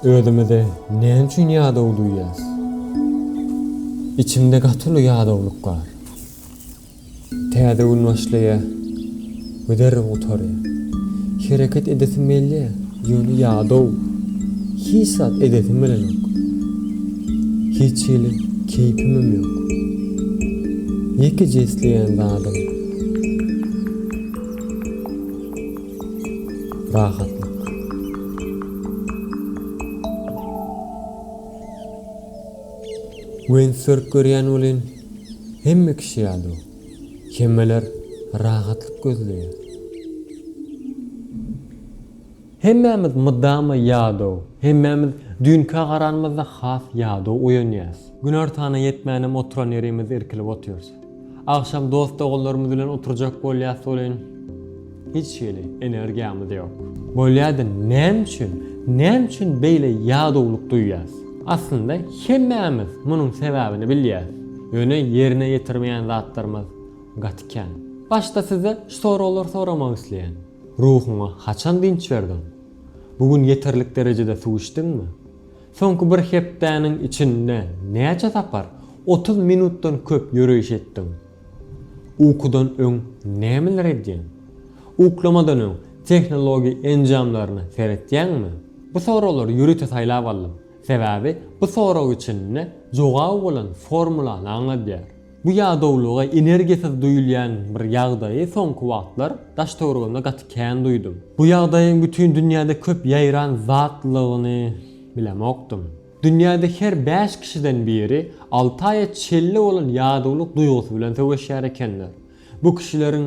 Özümizi näme üçin ýadaw duýýas? Içimde gaty uly ýadawlyk bar. Täze gün başlaýa we derrew gutarýa. Hereket edesim gelýä, ýöne ýadaw. Hiç zat edesim gelenok. Hiç hili keýpimem ýok. Ýekeje isleýän zadym Rahatlyk. Wein sörk görýän welin, hemme kişi ýaly, hemmeler rahatlyk gözleýär. Hemmämiz mydama ýadaw, hemmämiz düýnkä garanymyzda has ýadaw oýanýas. Günortana ýetmänem oturan ýerimizde irkilip otyrys. Agşam dost-doganlarymyz bilen oturjak bolýas welin, hiç hili energiýamyz ýok. Bolýa-da näme üçin, näme üçin beýle ýadawlyk duýýas? Aslynda hemmämiz munuň sebäbini bilýäs, ýöne ýerine ýetirmeýän zatlarymyz gaty kän. Başda size şu soraglar soramak isleýän. Ruhuňa haçan dynç berdiň? Bu gün ýeterlik derejede suw içdiňmi? Soňky bir hepdäniň içinde näçe sapar otuz minutdan köp ýöreýiş etdiň? Ukudan öň nämeler edýäň? Uklamadan öň tehnologiýa enjamlaryna seretýäňmi? Bu soraglary ýörite saýlap aldym, sebäbi bu sorag içinde jogaby bolan formulany aňladýar. Bu ýadawlyga energiýasyz duýulýan bir ýagdaýy soňky wagtlar daş-töweregimde gaty kän duýdum. Bu ýagdaýyň bütin dünýäde köp ýaýran zatlygyny bilemokdym. Dünýäde her bäş kişiden biri alty aýa çelli bolan ýadawlyk duýgusy bilen söweşýär ekenler. Bu kişileriň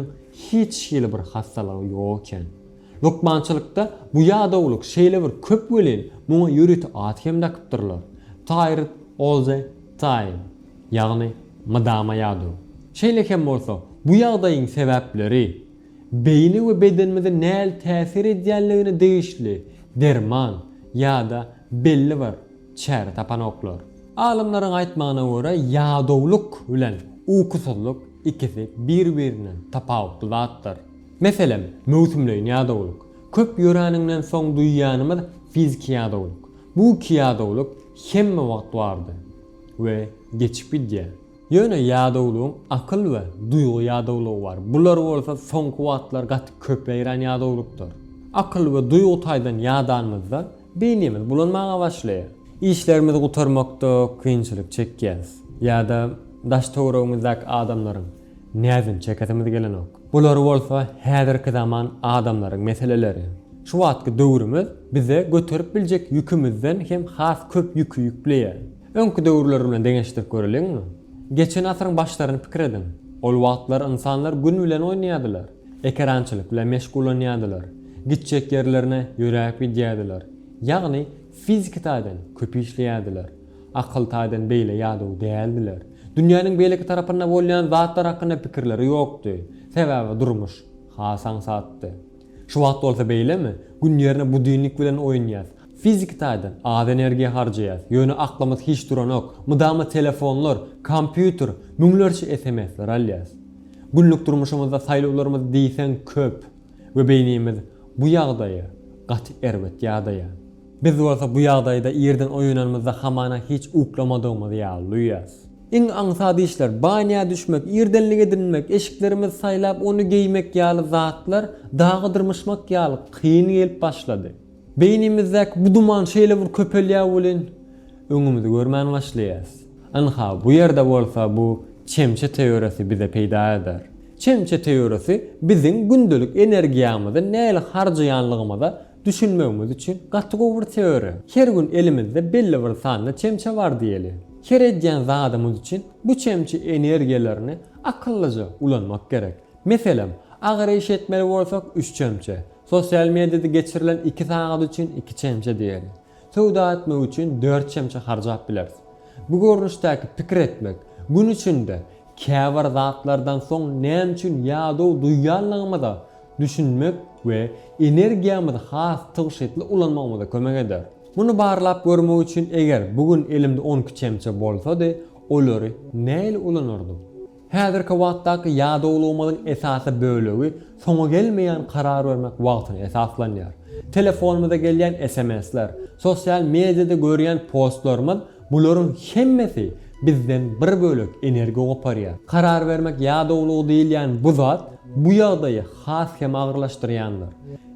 hiç hili bir hassalygy ýok eken. Lukmançylykda bu ýadawlyk şeýle bir köp welin, muňa ýörite at hem dakypdyrlar, Tired all the time. ýagny mydama ýaduw. Şeýle hem bolsa, bu ýagdaýyň sebäpleri, beýni we bedenimize näl täsir edýänligine degişli derman ýa-da belli bir çäre tapanoklar. Alymlaryň aýtmagyna görä, ýadawlyk bilen ukusyzlyk ikisi bir-birinden tapawutly zatdyr. Meselem, möwsümleýin ýadawlyk, köp ýöräniňden soň duýýanymyz fiziki ýadawlyk. Bu iki ýadawlyk hemme wagt bardy. we geçip gidýär. Ýöne ýadawlygyň akyl we duýgy ýadawlygy bar. Bular bolsa soňky wagtlar gaty köpeýrän ýadawlykdyr. Akyl we duýgy taýdan ýadanymyzda beýnimiz bulanmaga başlaýar. Işlerimizi gutarmakda kynçylyk çekýäris ýa-da daş-töweregimizdäki adamlaryň Näzin çekesimiz gelenok. Bular bolsa häzirki zaman adamlaryň meseleleri. Şu wagtky döwrümiz bize göterip biljek ýükümizden hem has köp ýüki ýükleýär. Öňki döwürler bilen deňeşdirip göreliňmi? Geçen asyryň başlaryny pikir ediň. Ol wagtlar ynsanlar gün bilen oýnaýardylar, ekerançylyk bilen meşgullanýardylar, gitjek ýerlerine ýöräp gidýärdiler, ýagny fiziki taýdan köp işleýärdiler. Akyl taýdan beýle ýadaw däldiler. Dünýäniň beýleki tarapynda bolýan zatlar hakynda pikirleri ýokdy. Sebäbi durmuş has aňsatdy. Şu wagt bolsa beýlemi? Gün ýerine budinnik bilen oýunýas. Fiziki taýdan az energiýa harjaýas, ýöne aklymyz hiç duranok. Mydama telefonlar, kompýuter, müňlerçe SMS-ler alýas. Günlük durmuşymyzda saýlawlarymyz diýseň köp we beýnimiz bu ýagdaýa gaty erbet ýadaýar. Biz bolsa bu ýagdaýda irden oýananymyzda hamana hiç uklamadygymyz ýaly duýýas. Iň aňsat işler, banýa düşmek, irdenlik edinmek, eşiklerimizi saýlap ony geýmek ýaly zatlar dagy dyrmyşmak ýaly kyn gelip başlady. Beýnimizdäki bu duman şeýle bir köpelýär welin, öňümizi görmän başlaýas. Ynha, bu ýerde bolsa bu çemçe teoriýasy bize peýda eder. Çemçe teoriýasy biziň gündelik energiýamyzy nähili harjaýanlygymyza Düşünmegiňiz üçin gaty gowy bir teoriýa. Her gün elimizde belli bir sanda çemçe bar diýeli. Her edýän zadymyz üçin bu çemçe energiýalaryny akyllyja ulanmak gerek. Meselem, agyr iş etmeli bolsak üç çemçe, sosial mediýada geçirilen iki sagat üçin iki çemçe diýeli. Söwda etmek üçin dört çemçe harjap bileris. Bu görnüşdäki pikir etmek, gün içinde käbir zatlardan soň näme üçin ýadaw duýýanlygymyza düşünmek we energiýamyzy has tygşytly ulanmagymyza kömek eder. Muny barlap görmek üçin eger bu gün elimde on iki çemçe bolsady, olary nähili ulanardym? Häzirki wagtdaky ýadawlygymyzyň esasy bölegi soňy gelmeýän karar bermek wagtyna esaslanýar. Telefonymyza gelýän SMS-ler, sosial mediada görýän postlarymyz Bularyň hemmesi bizden bir bölek energiýa goparýar. Karar bermek ýadawlygy diýilýän bu zat bu ýagdaýy has hem agyrlaşdyrýandyr.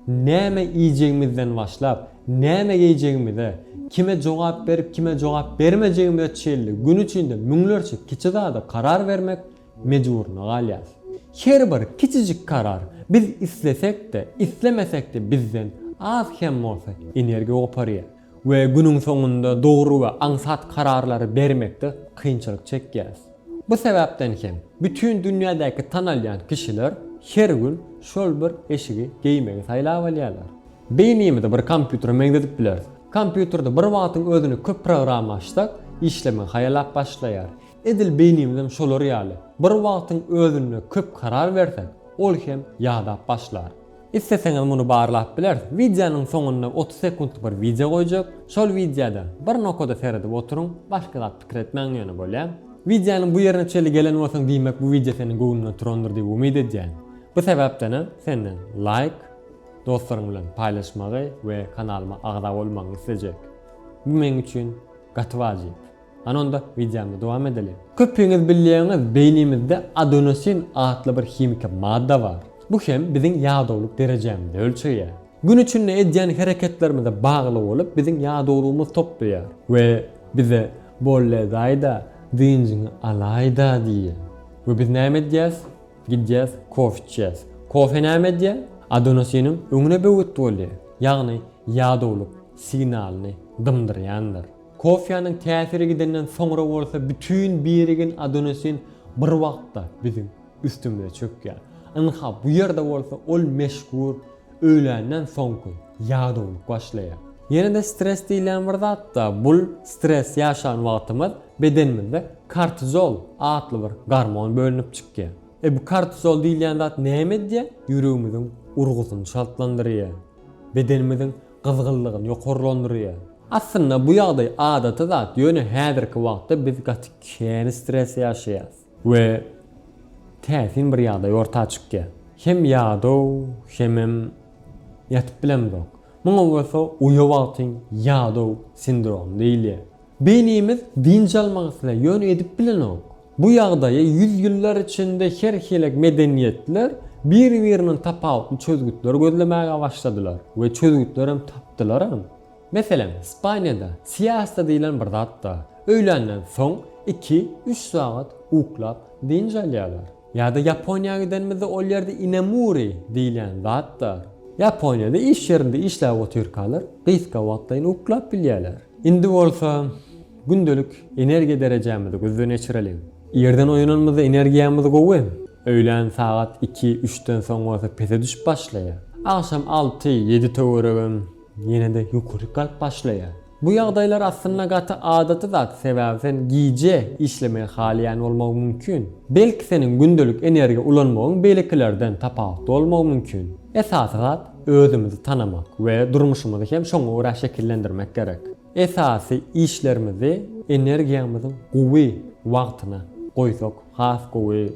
Näme iýjegimizden başlap, näme geýjegimize, kime jogap berip, kime jogap bermejegimize çenli gün içinde müňlerçe kiçi zada karar bermek mejburyna galýarys. Her bir kiçijik karar biz islesek-de, islemesek-de bizden az hem bolsa energiýa goparýar. We günüň soňunda dogry we aňsat kararlary bermekde kynçylyk çekýäris. Bu sebäpden hem bütin dünýädäki tanalýan kişiler her gün şol bir eşigi geýmegi saýlap alýarlar. Beýnimizi bir kompýutere meňzedip bileris. Kompýuterde bir wagtyň özüne köp program açsak, işlemegi haýalap başlaýar. Edil beýnimizem şolar ýaly. Bir wagtyň özünde köp karar bersek, ol hem ýadap başlar. Isleseňiz muny barlap bileris. Wideonyň soňunda otuz sekuntlyk bir wideo goýjak. Şol wideoda bir nokada seredip oturyň, başga zat pikir etmäň ýöne bolýa. Wideonyň bu ýerine çenli gelen bolsaň diýmek bu wideo seniň göwnüňe turandyr diýip umyt edýän. Bu sebäpdena senden laýk, dostlaryň bilen paýlaşmagy we kanalyma agza bolmagyňy islejek. Bu meň üçin gaty wajyp. Hany onda wideomyzy dowam edeliň. Köpüňiz bilýäňiz beýnimizde adenosin atly bir himiki madda bar. Bu hem biziň ýadawlyk derejämizi ölçeýär. Gün içinde edýän hereketlerimize bagly bolup biziň ýadawlygymyz toplaýar we bize bolledaýda dynjyňy alaýda diýýär. We biz näme edýäs? Gidýäs kofe içýäs. Kofe näme edýär? Adonosiniň öňüne böwet bolýar. Ýagny ýadawlyk signalyny dymdyrýandyr. Kofýanyň täsiri gidenden soňra bolsa bütin birigin adenosin bir wagtda biziň üstümize çökýär. Ynha, bu ýerde bolsa ol meşhur öýländen soňky ýadawlyk başlaýar. Ýene-de stres diýilýän bir zatda, bul stres ýaşan wagtymyz bedenimizde kortizol atly bir gormon bölünip çykýar. E bu kortizol diýilýän zat näme edýär? Ýüregimiziň urgusyny çaltlandyrýar. Bedenimiziň gyzgynlygyny ýokarlandyrýar. Aslynda bu ýagdaý adaty zat, ýöne häzirki wagtda biz gaty kän stres ýaşaýarys we täsin bir ýagdaý orta çykýar. Hem ýadaw, hemem ýatyp bilemzok. Muňa bolsa uýa wagtyň ýadaw sindromy diýilýär. Beýnimiz dynç almak islär, ýöne edip bilenok. Bu ýagdaýa ýüzýyllar içinde her hili medeniýetler bir-birinden tapawutly çözgütleri gözlemäge başladylar we çözgütlerem tapdylaram. Meselem, Ispaniýada siesta diýlen bir zat bar. Öýländen soň iki, üç sagat uklap dynç alýarlar. Ýa-da Ýaponiýa gidenimizde ol ýerde inamuri diýilýän zat bar. Ýaponiýada iş ýerinde işläp otyrkalar gysga wagtlaýyn uklap bilýärler. Indi bolsa gündelik energiýa derejämizi gözden geçireliň. Irden oýananymyzda energiýamyz gowy, öýlän sagat iki, üçden soň bolsa pese düşüp başlaýar. Agşam alty, ýedi töweregem ýene-de ýokaryk galyp başlaýar. Bu ýagdaýlar aslynda gaty adaty zat, sebäbi sen gije işlemegi halaýan bolmagy mümkin. Belki seniň gündelik energiýa ulanmagyň beýlekilerden tapawutly bolmagy mümkin. Esasy zat özümizi tanamak we durmuşymyzy hem şoňa görä şekillendirmek gerek. Esasy işlerimizi energiýamyzyň gowy wagtyna goýsak has gowy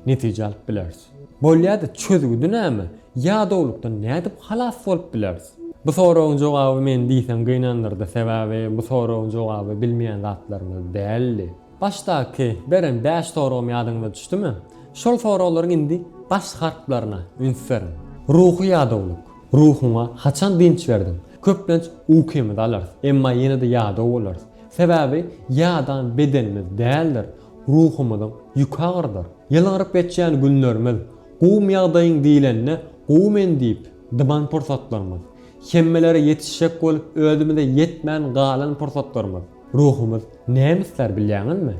netije alyp bileris. Bolýada çözgüdi näme? Ýadawlykdan nädip halas bolup bileris? Bu soragyň jogaby meni diýseň gynandyrdy, sebäbi bu soragyň jogaby bilmeýän zatlarymyz däldi. Başdaky beren bäş soragym ýadyňyza düşdümi? Şol soraglaryň indi baş harplaryna üns beriň. Ruhy ýadawlyk. Ruhuňa haçan dynç berdiň? Köplenç ukymyzy alarys, emma ýene-de ýadaw bolarys. Sebäbi ýadan bedenimiz däldir, ruhumyzyň ýüki agyrdyr. Ýylgyryp geçýän günlerimiz, gowum ýagdaýyň diýlende gowy men diýip dyman pursatlarymyz, hemmelere ýetişjek bolup özümize ýetmän galan pursatlarymyz, Ruhumyz näme islär bilýäňizmi?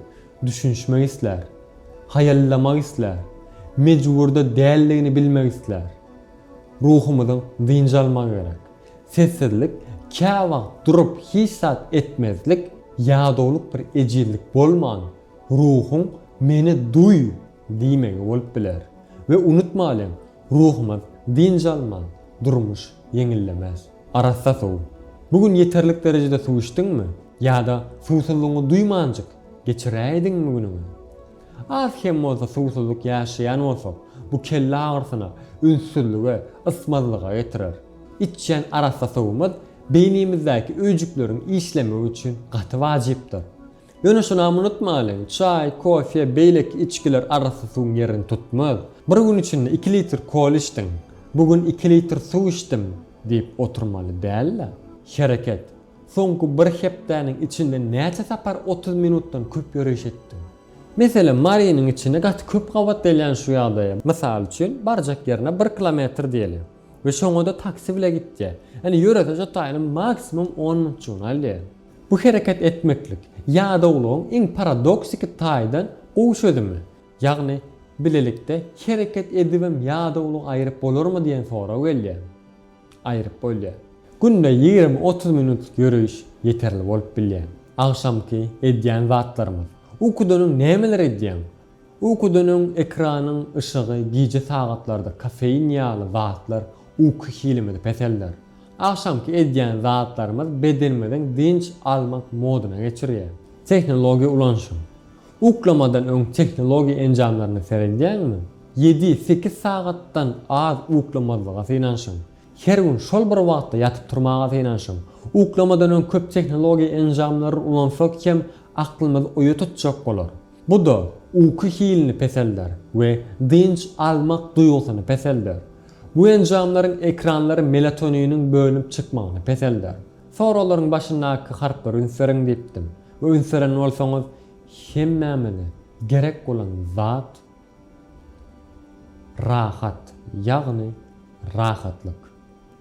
Düşünişmek islär. Haýallamak islär. Mejburda däldigini bilmek islär. Ruhumyzyň dynç almagy gerek. Sessizlik, käwagt durup hiç zat etmezlik, ýadawlyk bir ejizlik bolman, ruhuň meni duý! diýmegi bolup biler. We unutmalyň, ruhumyz dynç alman, durmuş ýeňillemez. Arassa suw. Bu gün ýeterlik derejede suw içdiňmi? Ýa-da suwsuzlygyňy duýmanjyk geçiräýdiňmi günüňi? Az hem bolsa suwsuzlyk ýaşaýan bolsak, bu kelle agyrysyna, ünssüzlige, ysmazlyga getirer. Içýän arassa suwumyz beýnimizdäki öýjükleriň işlemegi üçin gaty wajypdyr. Ýöne şunam unutmalyň, çaý, kofe, beýleki içgiler arassa suwuň ýerini tutmaz. Bir gün içinde iki litr kola içdiň, bu gün iki litr suw içdim diýip oturmaly däl-de. Hereket. Soňky bir hepdäniň içinde näçe sapar otuz minutdan köp ýöriş etdiň? Meselem, Marynyň içinde gaty köp gabat gelýän şu ýagdaýa, mysal üçin, barjak ýerine bir kilometr diýeli we şoňa-da taksi bile gitýär. Ýöne ýörese jotaýyny maksimum on minutjygyny alýar. Bu hereket etmeklik ýadawlygyň iň paradoksiki taýdan gowy çözümi, ýagny bilelikde hereket edibem ýadawlygy aýryp bolarmy diýen sorag gelýär. Aýryp bolýar. Günde ýigrimi-otuz minutlyk ýöreýiş ýeterli bolup bilýär. Agşamky edýän zatlarymyz. Ukudan öň nämeler edýäň? Ukudan öň ekranyň yşygy gije sagatlarda kofein ýaly zatlar uky hilimizi peselder. Agşamky edýän zatlarymyz bedenimiziň dynç almak modyna geçirýär. Tehnologiýa ulanyşyň. Uklamadan öň tehnologiýa enjamlaryna seredýäňmi? Ýedi, sekiz sagatdan az uklamazlyga synanyşyň. Her gün şol bir wagtda ýatyp turmaga synanyşyň. Uklamadan öň köp tehnologiýa enjamlary ulansak hem aklymyzy oýa tutjak bolar. Bu-da uky hilini peselder we dynç almak duýgusyny peselder. Bu enjamlaryň ekranlary melatoniniň bölünip çykmagyny peselder. Soraglaryň başyndaky harplary ünseriň diýipdim we ünseren bolsaňyz hemmämize gerek bolan zat rahat ýagny rahatlyk.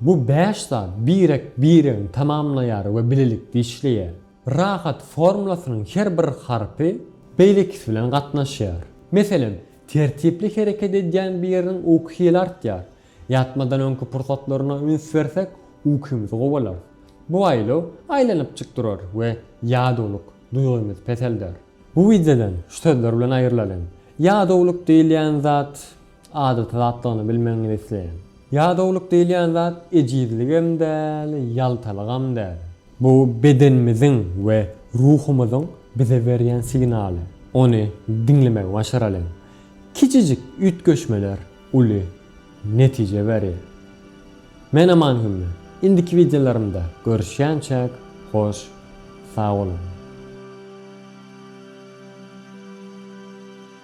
Bu bäş zat birek-biregini tamamlaýar we bilelikde işleýär. Rahat formulasynyň her bir harpy beýlekisi bilen gatnaşýar. Meselem, tertipli hereket edýän biriniň uky hili artýar. Ýatmadan öňki pursatlaryna üns bersek, ukymyzy gowalarys. Bu aýlaw aýlanypjyk durar we ýadawlyk duýgymyz peselder. Bu wideodan şu sözler bilen aýrylalyň. Ýadawlyk diýilýän zat Adaty zatdygyny bilmegiňizi isleýän. Ýadawlyk diýilýän zat ejizligem däl, ýaltalygam däl. Bu bedenimiziň we ruhumyzyň bize berýän signaly. Ony diňlemegi başaralyň. Kiçijik üýtgeşmeler uly netije berýär. Men Aman Hümmi. Indiki wideolarymda görüşýänçäk, hoş sag boluň.